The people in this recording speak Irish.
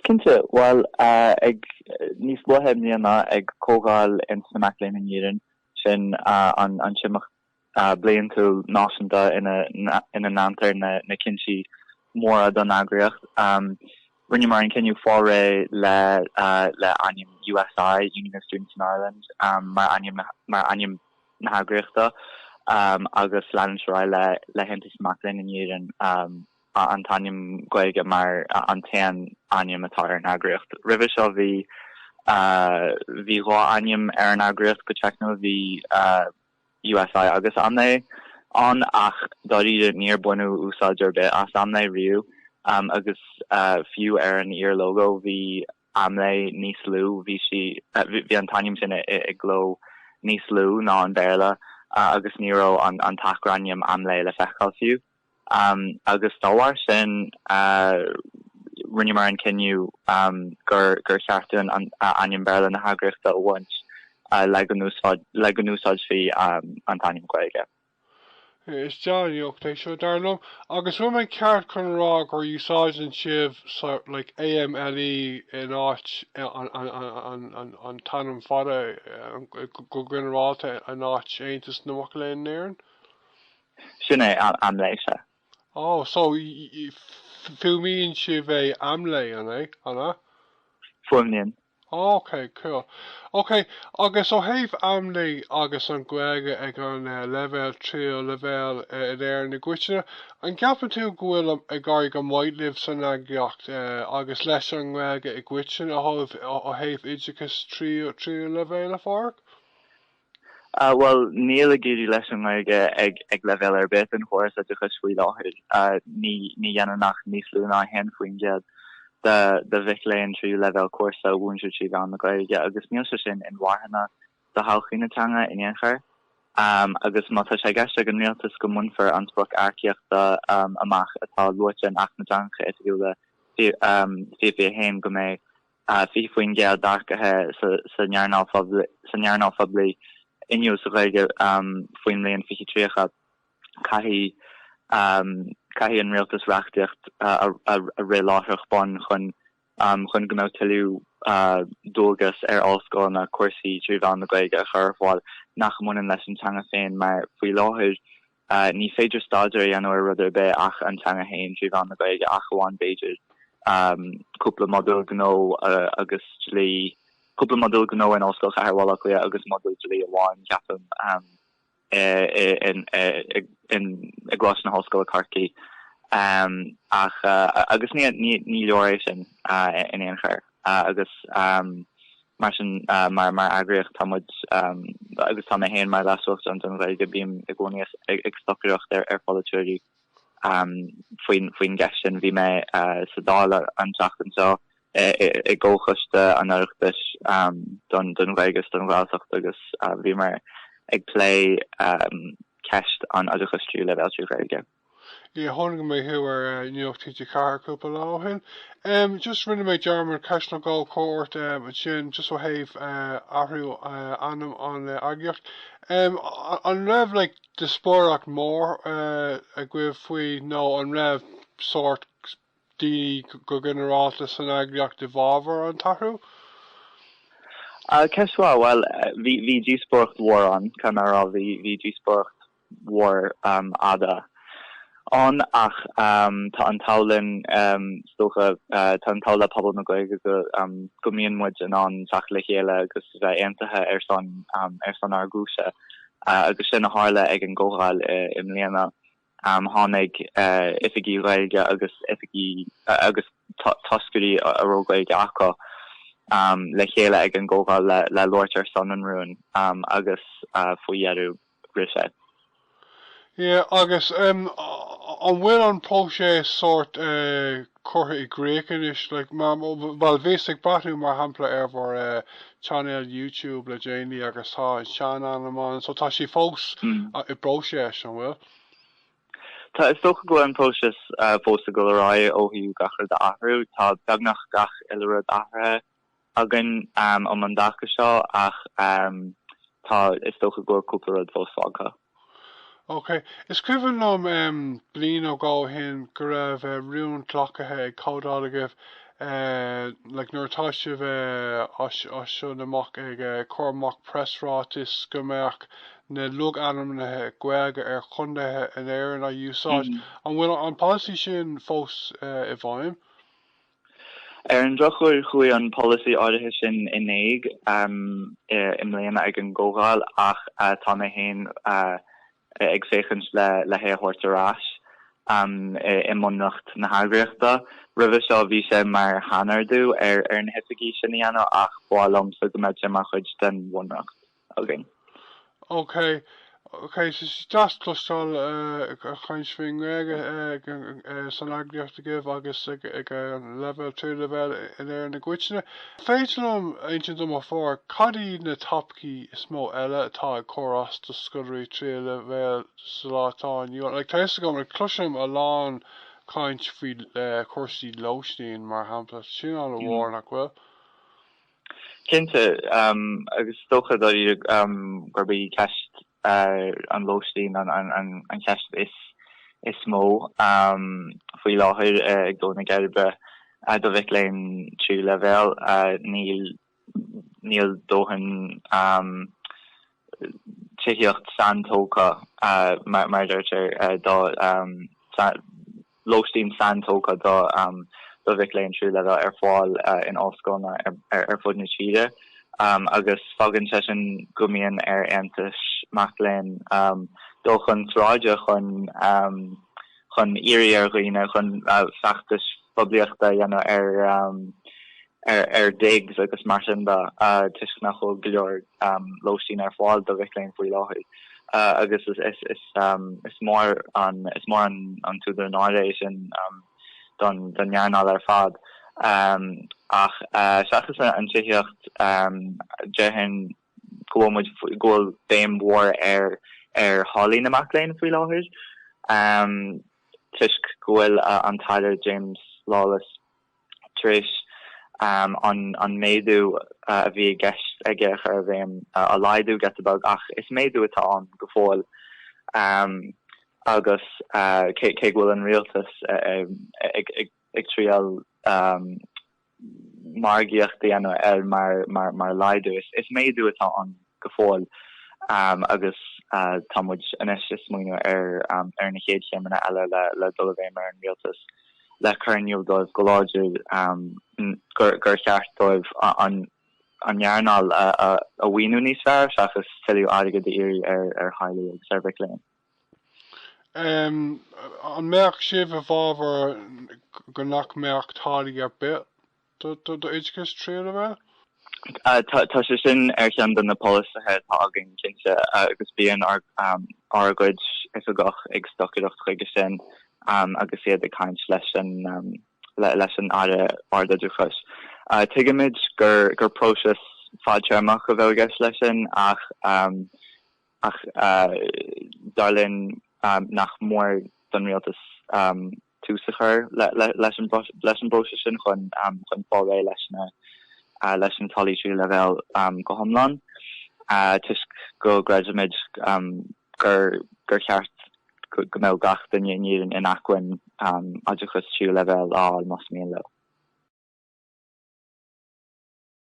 Cinnte, bhuel, ag níos luaithe i mbliana ag comhdháil Aontas na Mac Léinn in Éirinn, sin an t-imeacht bliantúil náisiúnta ina ndántar na cinntí móra don eagraíocht, rinneamar an cinneadh fáil réidh le ainm USI, Union of Students in Ireland, mar ainm na heagraíochta agus leanúint ar aghaidh le hAontas na Mac Léinn in Éirinn. An t-ainm Gaeilge mar an t-aon ainm atá ar an eagraíocht. Roimhe seo bhí bhí dhá ainm ar an eagraíocht go teicniúil, bhí USI agus AMLÉ ann ach dáiríre níor baineadh úsáid ar bith as AMLÉ riamh agus fiú ar an iar-lógó bhí AMLÉ níos lú, bhí, bhí an t-ainm sin i gcló níos lú ná an Béarla agus ní raibh an t-acrainm AMLÉ le feiceáil fiú. agus dá bharr sin rinneamar an cinneadh gur cheart dúinn ainm Béarla na heagraíochta a bhaint le go n-úsáidfí an t-ainm Gaeilge. Is difríocht é seo, dar liom, agus bhfuil mé ceart chun a rá gur úsáideann sibh like AMLÉ in áit an t-ainm fada go ginearálta in áit Aontas na Mac Léinn in Éirinn? Sin é, AMLÉ, sea. Ó, so fuaimníonn sibh é AMLÉ an é, an ea? Fuaimníonn. Ok, cool. Ok, agus ó thaobh AMLÉ agus an Ghaeilge ag an leibhéal tríú leibhéal in Éirinn i gcoitinne, an gceapann tú go bhfuil ag éirí go maith libh san eagraíocht agus leis an nGaeilge i gcoitinne ó thaobh oideachais tríú leibhéal de, a Phádraig? Ah bhuel, níl ag éirí leis an nGaeilge ag leibhéal ar bith den chóras oideachais faoi láthair. Ní dhéanann ach níos lú ná 1% de mhic léinn tríú leibhéal cúrsa a mhúintear trí mheán na Gaeilge agus níl sé sin inmharthana do thodhchaí na teanga in aon chor. Agus má tá sé i gceist ag an rialtas go mbainfear an sprioc earcaíochta amach atá luaite in Acht na dTeangacha Oifigiúla 2021 go mbeidh 20% d'earcaithe san earnáil phoiblí inniúil sa Ghaeilge faoin mbliain 2030, caithfidh an Rialtas reachtaíocht a rith láithreach bonn chun go mbeadh tuilleadh dualgas ar ollscoileanna cúrsaí trí mheán na Gaeilge a chur ar fáil nach mbaineann leis an teanga féin mar, faoi láthair, a. Ní féidir staidéar a dhéanamh ar rud ar bith ach an teanga féin trí mheán na Gaeilge ach amháin b'fhéidir cúpla modúl gnó agus dlí, cúpla modúl gnó in Ollscoil Chathair Bhaile Átha Cliath agus modúl dlí amháin, ceapaim, i gColáiste na hOllscoile, Corcaigh. Ach, agus ní leor é sin in aon chor. agus mar sin mar eagraíocht tá muid, agus tá mé féin mar leasuachtarán don Ghaeilge, bím i gcónaí ag stocaireacht ar pholaiteoirí faoin gceist sin. Bhí mé sa Dáil an tseachtain seo i gcomhchoiste an Oireachtais don Ghaeilge is don Ghaeltacht agus bhíomar ag plé ceist an oideachais tríú leibhéal trí Ghaeilge. Yeah, chonaic mé thú ar Nuacht TG4 cúpla lá ó shin. Em, just rinne mé dearmad ceist nó dhó a chur ort, em, ansin, just ó thaobh, eh, athrú, eh, ainm an, eh, eagraíocht. Em, an raibh, like, díospóireacht mhór, eh, agaibh faoi nó an raibh sórt daoine go ginearálta san eagraíocht i bhfabhar an t-athrú? Ah, ceist mhaith. Bhuel, eh, bhí, bhí díospóireacht mhór ann, cá nach raibh, bhí, bhí díospóireacht. mhór fhada ann ach tá an t-ádh linn is dócha, tá an t-ádh le pobal na Gaeilge go mbíonn muid in ann teacht le chéile agus bheith aontaithe ar son ar son ár gcúise agus sin a tharla ag an gcomhdháil i mbliana. Tháinig oifigigh Ghaeilge agus oifigigh agus toscairí a raibh Gaeilge acu le chéile ag an gcomhdháil le labhairt ar son an rúin agus faoi dheireadh, bhriseadh. Yeah, agus em an bhfuil an próiseas sórt eh curtha i gcrích anois, like mar, bhuel bhíos ag breathnú mar shampla ar bhur eh chainéal YouTube le déanaí agus tá an sean-ainm ann, so tá sé fós mm i bpróiseas, an bhfuil? Tá, is dócha go bhfuil an próiseas eh fós ag dul ar aghaidh ó thaobh gach rud a athrú, tá beagnach gach uile rud athraithe, againn um an dtaca seo ach tá, is dócha go bhfuil cúpla rud fós fágtha. OK. Is cuimhin liom em bliain nó dhó ó shin go raibh eh rún glacaithe ag Comhdháil agaibh eh like nuair atá sibh eh as as seo amach ag eh cur amach preasráitis go mbeadh na logainmneacha Gaeilge ar chontaethe in Éirinn a úsáid. An bhfuil an polasaí sin fós eh i bhfeidhm? Ar an drochuair, chuaigh an polasaí áirithe sin in éag i mbliana ag an gcomhdháil ach tá mé féin ag féachaint le hé a thabhairt ar ais i mbunreacht na heagraíochta. Roimhe seo, bhí sé mar shainordú ar na hoifigigh sin a dhéanamh ach b'fhearr liomsa go mbeadh sé mar chuid den bhunreacht. againn. OK, OK, deas cloisteáil caint faoin nGaeilge san eagraíocht agaibh agus ag an leibhéal, tríú leibhéal in Éirinn i gcoitinne. Féidir leat insint dom fúmar cad iad na topaicí is mó eile atá ag cur as do scoláirí tríú leibhéal sa lá atá inniu ann? Tá fhios agam, cloisim a lán caint faoi chúrsaí lóistín mar shampla, sin an-mhór, nach bhfuil? Cinnte, agus is dócha dáiríre gurb í ceist an lóistín an cheist is mó faoi láthair ag dó na geirbe do mhic léinn tríú leibhéal. Níl dóthain. tithíocht saintógtha, mar a deirtear, do lóistín saintógtha do mhic léinn tríú leibhéal ar fáil in ollscoileanna ar fud na tíre agus fágann sé sin go mbíonn ar aontais mac léinn dul chun sráide chun chun iarraidh ar dhaoine, chun feachtais phoiblíochta a dhéanamh ar ar digs agus mar sin de, toisc nach bhfuil go leor lóistín ar fáil do mhic léinn faoi láthair, agus is mór an t-údar náire é sin don earnáil ar fad. Ach seachas an tithíocht, déarfainn go bhfuil béim mhór ar tháillí na mac léinn faoi láthair, toisc go bhfuil an tAire James Lawless, tar éis an méadú a bhí i gceist aige a chur i bhfeidhm, a laghdú giota beag, ach is méadú atá ann go fóill agus cé go bhfuil an rialtas ag triail margaíocht a dhéanamh air mar laghdú, is méadú atá ann. go fóill agus tá muid anois ag smaoineamh ar na chéad chéimeanna eile le dul i bhfeidhm ar an rialtas le cur in iúl dóibh go láidir gur cheart dóibh an earnáil a mhaoiniú níos fearr seachas tuilleadh airgid a iarraidh ar theaghlaigh agus ar mhic léinn. An mbeadh sibh i bhfábhar go nach mbeadh táillí ar bith? do do oideachas tríú leibhéal? Tá sé sin ar cheann de na polasaithe atá againn, cinnte, agus bíonn ár gcuid oifigeach ag stocaireacht chuige sin agus iad ag caint leis an Aire Ardoideachais. Tuigimid gur próiseas fadtéarmach a bheadh i gceist leis sin ach dar linn nach mór don rialtas, tús a chur leis an bpróiseas sin chun fáil réidh leis na leis na táillí tríú leibhéal go hiomlán toisc go gcreidimid gur cheart go mbeadh gach duine in Éirinn in acmhainn oideachas tríú leibhéal a fháil más mian leo.